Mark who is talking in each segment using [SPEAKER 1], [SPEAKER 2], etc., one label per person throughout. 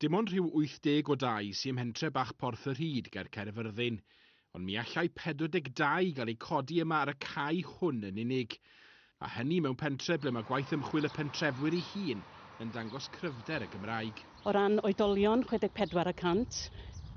[SPEAKER 1] Dim ond rhyw 80 o dai sy ym mhentre bach Porth y Rhyd ger Caerfyrddin, ond mi allai 42 gael eu codi yma ar y cae hwn yn unig. A hynny mewn pentre ble mae gwaith ymchwil y pentrefwyr ei hun yn dangos cryfder y Gymraeg. O ran oedolion,
[SPEAKER 2] 64 y cant,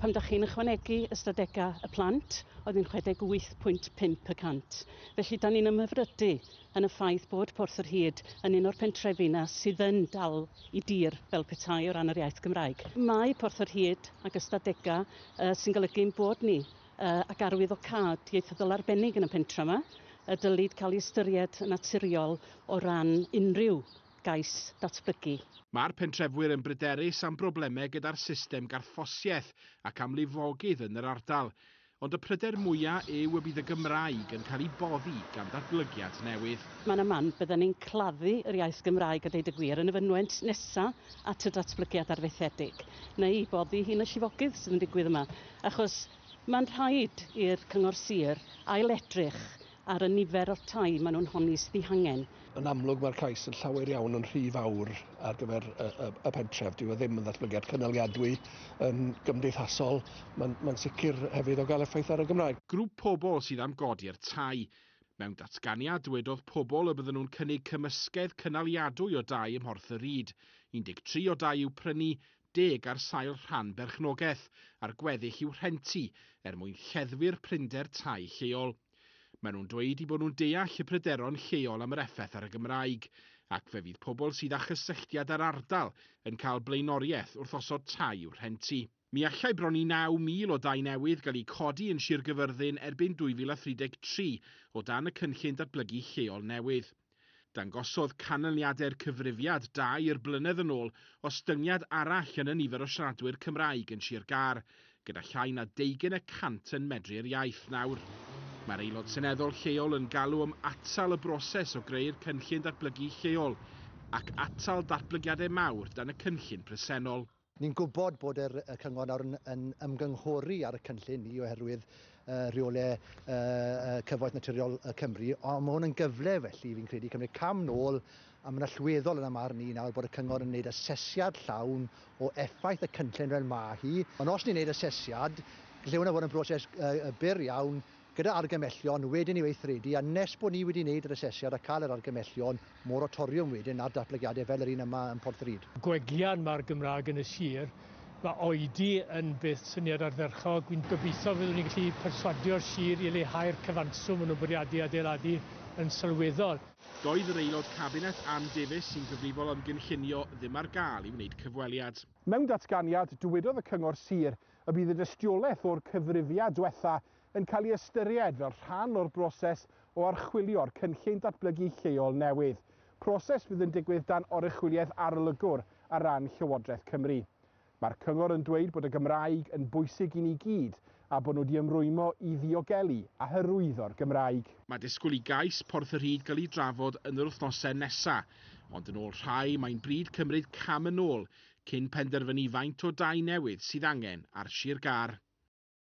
[SPEAKER 2] pan dach chi'n ychwanegu ystadegau y plant, oedd hi'n 68.5 y cant. Felly, 'dan ni'n ymhyfrydu yn y ffaith bod Porth yr Hyd yn un o'r pentrefi 'na sydd yn dal i dir fel petai o ran yr iaith Gymraeg. Mae Porth yr Hyd ag ystadega sy'n golygu ein bod ni ag arwyddocâd ieithyddol arbennig yn y pentre 'ma y dylid cael ei ystyried yn naturiol o ran unrhyw gais datblygu. Mae'r pentrefwyr
[SPEAKER 1] yn bryderus am broblemau gyda'r system garthffosiaeth ac am lifogydd yn yr ardal. Ond y pryder mwya' yw y bydd y Gymraeg yn cael ei boddi gan ddatblygiad newydd. Mae 'na man, byddan ni'n
[SPEAKER 2] claddu yr iaith Gymraeg a deud y gwir yn y fynwent nesa' at y datblygiad arfaethedig, neu'i boddi hi'n y llifogydd sydd yn digwydd yma, achos ma'n rhaid i'r Cyngor Sir ail-edrych ar y nifer o'r tai maen nhw'n honni sydd eu hangen. Yn amlwg mae'r cais
[SPEAKER 3] yn llawer iawn yn rhy fawr ar gyfer y, y, y pentref. Dyw e ddim yn ddatblygiad cynaliadwy yn gymdeithasol. Mae'n mae sicr hefyd o gael effaith ar y Gymraeg. Grŵp pobl sydd
[SPEAKER 1] am godi'r tai. Mewn datganiad dywedodd pobl y bydden nhw'n cynnig cymysgedd cynaliadwy o dai ym Mhorth y Ryd. 13 o dai i'w prynu, deg ar sail rhan berchnogaeth a'r gweddill i'w rhentu er mwyn lleddfu'r prinder tai lleol. Maen nhw'n dweud eu bod nhw'n deall y pryderon lleol am yr effaith ar y Gymraeg, ac fe fydd pobl sydd â chysylltiad â'r ardal yn cael blaenoriaeth wrth osod tai i'w rhentu. Mi allai bron i 9,000 o dai newydd gael eu codi yn Sir Gyfyrddin erbyn 2033 o dan y cynllun datblygu lleol newydd. Dangosodd canlyniadau'r cyfrifiad dair blynedd yn ôl ostyngiad arall yn y nifer o siaradwyr Cymraeg yn Sir Gâr, gyda llai na deugain y cant yn medru'r iaith nawr. Mae'r Aelod Seneddol lleol yn galw am atal y broses o greu'r cynllun datblygu lleol ac atal datblygiadau mawr dan y cynllun presennol. Ni'n gwybod
[SPEAKER 4] bod yr, y cyngor nawr yn, yn ymgynghori ar y cynllun ni oherwydd uh, rheolau uh, cyfoeth naturiol uh, Cymru, ond mae hwn yn gyfle felly fi'n credu cymryd cam nôl a mae'n allweddol yn y marn ni nawr bod y cyngor yn gwneud asesiad llawn o effaith y cynllun fel mae hi. Ond os ni'n gwneud asesiad, lle hwnna fod yn broses uh, byr iawn, gyda argymellion wedyn i weithredu a nes bod ni wedi wneud yr asesiad a cael yr argymellion moratoriwm wedyn ar datblygiadau fel yr un yma yn Porthrud. Gwellian ma'r
[SPEAKER 5] Gymraeg yn y sir, ma' oedi yn beth syniad ardderchog, wi'n gobeithio fyddwn ni'n gallu perswadio'r sir i leihau'r cyfanswm ma' nhw'n bwriadu adeiladu yn sylweddol. Doedd yr Aelod
[SPEAKER 1] Cabinet Ann Davies sy'n gyfrifol am gynllunio ddim ar gael i wneud cyfweliad. Mewn datganiad,
[SPEAKER 6] dywedodd y Cyngor Sir y bydd y dystiolaeth o'r cyfrifiad dwetha yn cael ei ystyried fel rhan o'r broses o archwilio'r cynllun datblygu lleol newydd, proses fydd yn digwydd dan oruchwyliaeth arolygwr ar ran Llywodraeth Cymru. Mae'r Cyngor yn dweud bod y Gymraeg yn bwysig i ni gyd a bod nhw wedi ymrwymo i ddiogelu a hyrwyddo'r Gymraeg. Mae disgwyl i gais
[SPEAKER 1] Porth y Rhyd gael ei drafod yn yr wythnosau nesaf, ond yn ôl rhai mae'n bryd cymryd cam yn ôl cyn penderfynu faint o dai newydd sydd angen ar Sir Gâr.